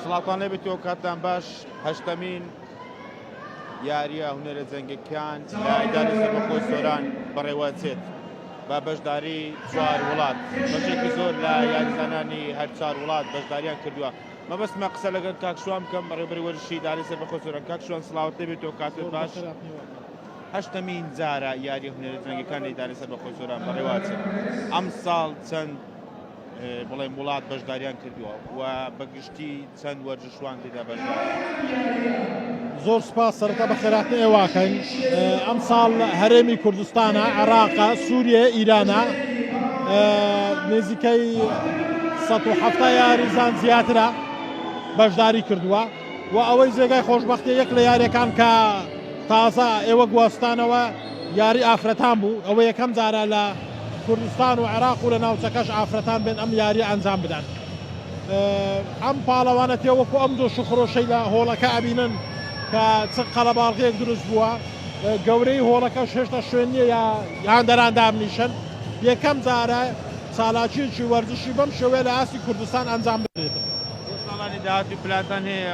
سڵاوتان لێبێت و کاتتان باش هەشتەمین یاریە هونەرە جەنگەکان لایداری سەربەخۆی سۆران بەڕێوەچێت بە بەشداری چوار وڵات بەشێکی زۆر لە یاریزانانی هەر چار وڵات بەشداریان کردووە مەبەستمە قسە لەگەر کاکشوان بکەم بەڕێبەری وەرشی داری سەر بەخۆ سۆران کاکشوان سڵاوت لێبێت و کاتت باش هەشتەمین جارە یاری هونەرە جەنگەکانی داری سەر بەخۆ سۆران بەڕێوەچێت ئەم ساڵ چەند بڵێم وڵات بەشداریان کردووە و بە گشتی چەند وەرزشوان تێدا بەشدارن. زۆر سپاس سەرەتا بە خێراتنی ئێواکەین ئەمساڵ هەرێمی کوردستانە عێراقە سووریە ئیرانە نێزیکەی 1970 یاریزان زیاترە بەشداری کردووە و ئەوەی زێگای خۆشببختی یەک لە یاریەکان کە تازە ئێوە گواستانەوە یاری ئافرەتان بوو ئەوە یەکەم جارە لە کوردستان و عێراق و لە ناوچەکەش ئافرەتان بێن ئەم یاریە ئەنجام بدەن ئەم پاڵەوانە تێ وەکو ئەم دۆش و خرۆشەی لە هۆڵەکە ئەبینن کە چ قەلەباڵغێک دروست بووە گەورەی هۆڵەکەش هێشتا شوێن نییە یا هاندەران دابنیشن یەکەم جارە چالاکیەکی وەرزشی بەم شێوەیە لە ئاستی کوردستان ئەنجام بدرێت ساڵانی داهاتوو پلانتان هەیە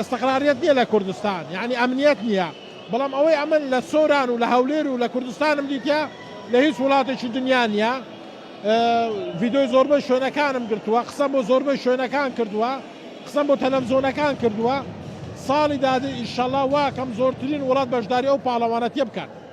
ئستقراریەت نیە لە کوردستان یانی ئەمنیەت نیە بەڵام ئەوەی ئەمن لە سۆران و لە هەولێر و لە کوردستانم دیتیە لە هیچ وڵاتێکی دنیا نیە ڤیدۆی زۆربەی شوێنەکانم گرتووە قسەم بۆ زۆربەی شوێنەکان کردووە قسەم بۆ تەلەفزۆنەکان کردووە ساڵی دادێ ئیشەڵا واکەم زۆرترین وڵات بەشداری ئەو پاڵەوانەتیە بکات.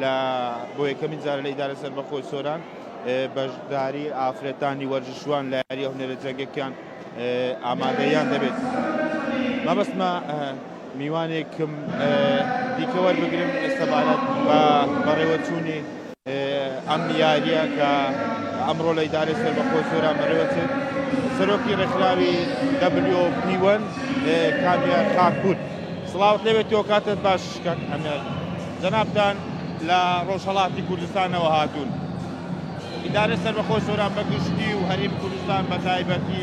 لە بۆ یەکەمین جار لە ئیدارە سەربەخۆی سۆران بەشداری ئافرەتانی وەرزشوان لە یاریە هونەرە جەنگەکیان ئامادەیان دەبێت مەبەستمە میوانێکم دیکە وەربگرم سەبارەت بە بەڕێوەچوونی ئەم یاریە کە ئەمڕۆ لە ئیدارە سەربەخۆ سۆران بەڕێوەچێت سەرۆکی ڕێکخراوی دەبلیۆ پیوەن کامیار خاکپور سڵاوت لەوێت تۆ کاتت باش کاک ئەمێر جەنابتان لە ڕۆژهەڵاتی کوردستانەوە هاتوون، ئیدارەی سەربەخۆی سۆران بە گشتی و هەرێمی کوردستان بە تایبەتی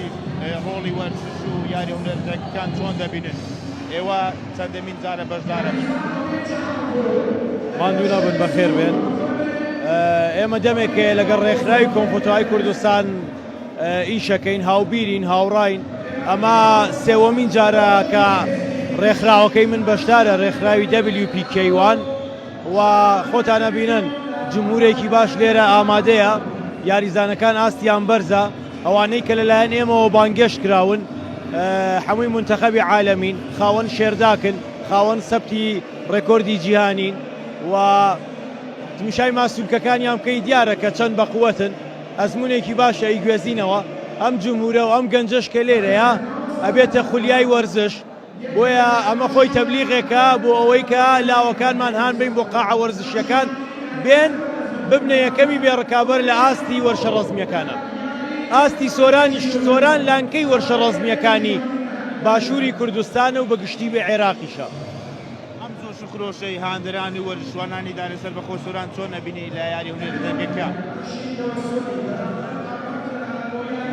ڕۆڵی وەرزش و یارییە هونەرمەندییەکان چۆن دەبینن؟ ئێوە چەندەمین جارە بەشدارەبن؟ ماندوو نەبن بەخێربێن. ئێمە دەمێکەیە لەگەڵ ڕێکخراوی کۆنفۆتراوی کوردستان، ئیشەکەین، هاوبیرین، هاوڕاین، ئەمە سێوەمین جارە کە ڕێکخراوەکەی من بەشدارە، ڕێکخراوی WPK وان، و خۆتان ئەبینن جمهورێکی باش لێرە ئامادەیە، یاریزانەکان ئاستیان بەرزە، ئەوانەی کە لەلایەن ئێمەوە بانگێشت کراون هەمووی مونتەخەبی عالەمین، خاوەن شێرداکن، خاوەن سەبتی ڕێکۆردی جیهانین و تمشای ماسولکەکانیان بکەی دیارە کە چەند بەقوەتن. ئەزمونێکی باشە ئیگوێزینەوە ئەم جمهورە و ئەم گەنجەش کە لێرەیە ئەبێتە خولیای وەرزش بۆیە ئەمە خۆی تەبلیغێکە بۆ ئەوەی کە لاوەکانمان هان بین بۆ قاعە وەرزشیەکان بێن ببنە یەکەمی بێ ڕکابەر لە ئاستی وەرشە ڕەزمیەکانە ئاستی سۆرانیش سۆران لانکەی وەرشە ڕەزمیەکانی باشوری کوردستانە و بە گشتی بێ عێراقیشە. ئەم جۆش و خرۆشەی هاندەران و وەرزشوانانی دانێ سەربەخۆ سۆران چۆن ئەبینی لە یاری هونەری دەنگەکە؟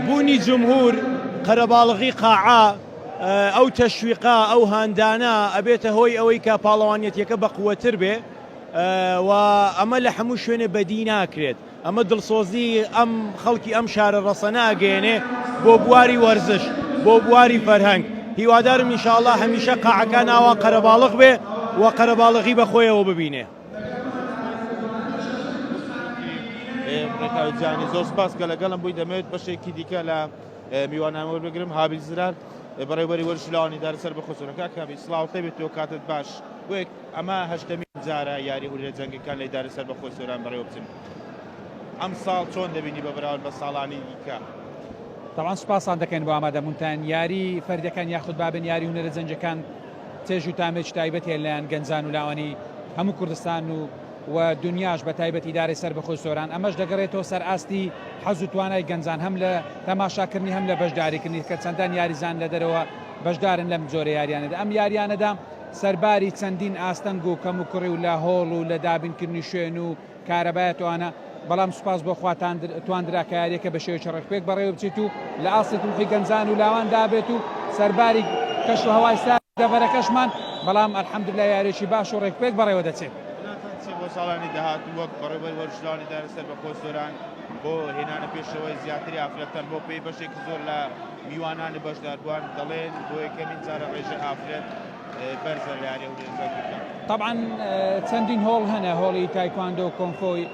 بوونی جمهور، قەرەباڵغی قاعە، ئەو تەشویقە، ئەو هاندانە ئەبێتە هۆی ئەوەی کە پاڵەوانیەتیەکە بەقوەتر بێ و ئەمە لە هەموو شوێنێ بەدی ناکرێت. ئەمە دڵسۆزیی ئەم خەڵکی ئەم شارە ڕەسەنە ئەگەیەنێ بۆ بواری وەرزش، بۆ بواری فەرهەنگ، هیوادارم ان شاء اللە هەمیشە قاعەکان ئاوا قەرەباڵغ بێ و قەرەباڵغی بە خۆیەوە ببینێ. ڕێکاو جانی زۆر سپاس کە لەگەڵم بووی دەمەوێت بەشێکی دیکە لە میوانان وەربگرم هابیل زرار بەڕێوبەری وەرشی لاوانی دارە سەر بە خۆسۆنەکە کامی سڵاو تەبێت تۆ کاتت باش بۆ ئەمە هەشتەمین جارە یاری ئورێ جەنگەکان لە ئیدارەی سەربەخۆی سۆران بەڕێوەبچن، ئەمساڵ چۆن دەبینی بە بەراورد بە ساڵانی دیکە؟ تەبعەن سوپاستان دەکەین بۆ ئامادەبوونتان، یاری فەردەکان یاخود بابن یاری هونەرە جەنگیەکان چێژ و تامێکی تایبەت هەیە لەلایەن گەنجان و لاوانی هەموو کوردستان و و دونیاش بەتایبەت ئیدارەی سەربەخۆی سۆران ئەمەش دەگەڕێتەوە سەر ئاستی حەز و توانای گەنجان هەم لە تەماشاکردنی هەم لە بەشداریکردنی کە چەندان یاریزان لە دەرەوە بەشدارن لەم جۆرە یاریانەدا ئەم یاریانەدا سەرباری چەندین ئاستەنگ و کەموکوڕی و لە هۆڵ و لە دابینکردنی شوێن و کارەبای ئەتۆانە، بەڵام سوپاس بۆ خوا تواندرا کە یارییەکە بە شێوەیەکی ڕێکپێک بەڕێوەبچێت و لە ئاستی تموحی گەنجان و لاوان دابێت و سەرباری کەش و هەوای سارد دەڤەرەکەشمان، بەڵام الحمدللە یارییەکی باش و ڕێکپێک بەڕێوەدەچێت. پلانتان چییە بۆ ساڵانی داهاتوو وەک بەڕێوبەری وەرزشوانی دانەسەر بە کۆچ سۆران بۆ هێنانە پێشەوەی زیاتری ئافرەتان بۆ پێی بەشێکی زۆر لە میوانانی بەشداربووان دەڵێن، بۆ یەکەمین جارە ڕێژەی ئافرەت بەرزە لە یانە ورێنجە گووتان. تەبعەن چەندین هۆڵ هەنە، هۆڵی تایکواندۆ، کۆنفۆی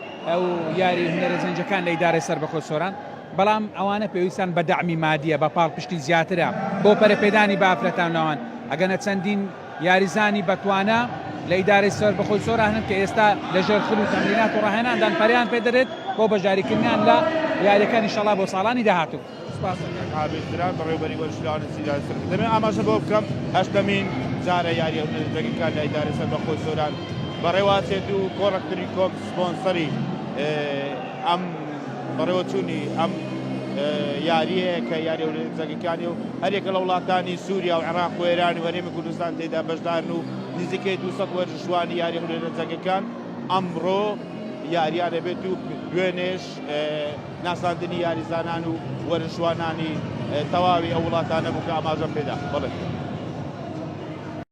و یاری هونەرە جەنگیەکان لە ئیدارەی سەربەخۆی سۆران، بەڵام ئەوانە پێویستان بە دەعمی مادیە، بە پاڵپشتی زیاترە بۆ پەرەپێدانی بە ئافرەتان لەوان، ئەگەنە چەندین یاریزانی بەتوانا لە ئیدارەی سەربەخۆی سۆران هەن کە ئێستا لە ژێر خول و تەمرینات و ڕاهێناندان پەرەیان پێدەرێت بۆ بەشداریکردنیان لە یاریەکان ئیشەڵا بۆ ساڵانی داهاتوو. سپاس ئەکەین عابد دران بەڕێوبەری وەرزشگەڕانی سیدای سەرکە دەمێ ئاماژە بەوە بکەم هەشتەمین جارە یاریە دەگی کار لە ئیدارەی سەربەخۆی سۆران بەڕێواچێت و کۆڕەک تری کۆم سپۆنسەری ئەم بەڕێوە چوونی ئەم یاریە کە یاری ئەولەمپیکەکانی و هەرێکە لە وڵاتانی سووریا و عێراق و ئێران و هەرێمی کوردستان تێدا بەشدارن و نزیکەی 200 وەرزشوانی یاری ئەولەمپیکەکان ئەمڕۆ یارییان دەبێت و دوێنێش ناساندنی یاریزانان و وەرزشوانانی تەواوی ئەو وڵاتانە بوو کە ئاماژەم پێدا.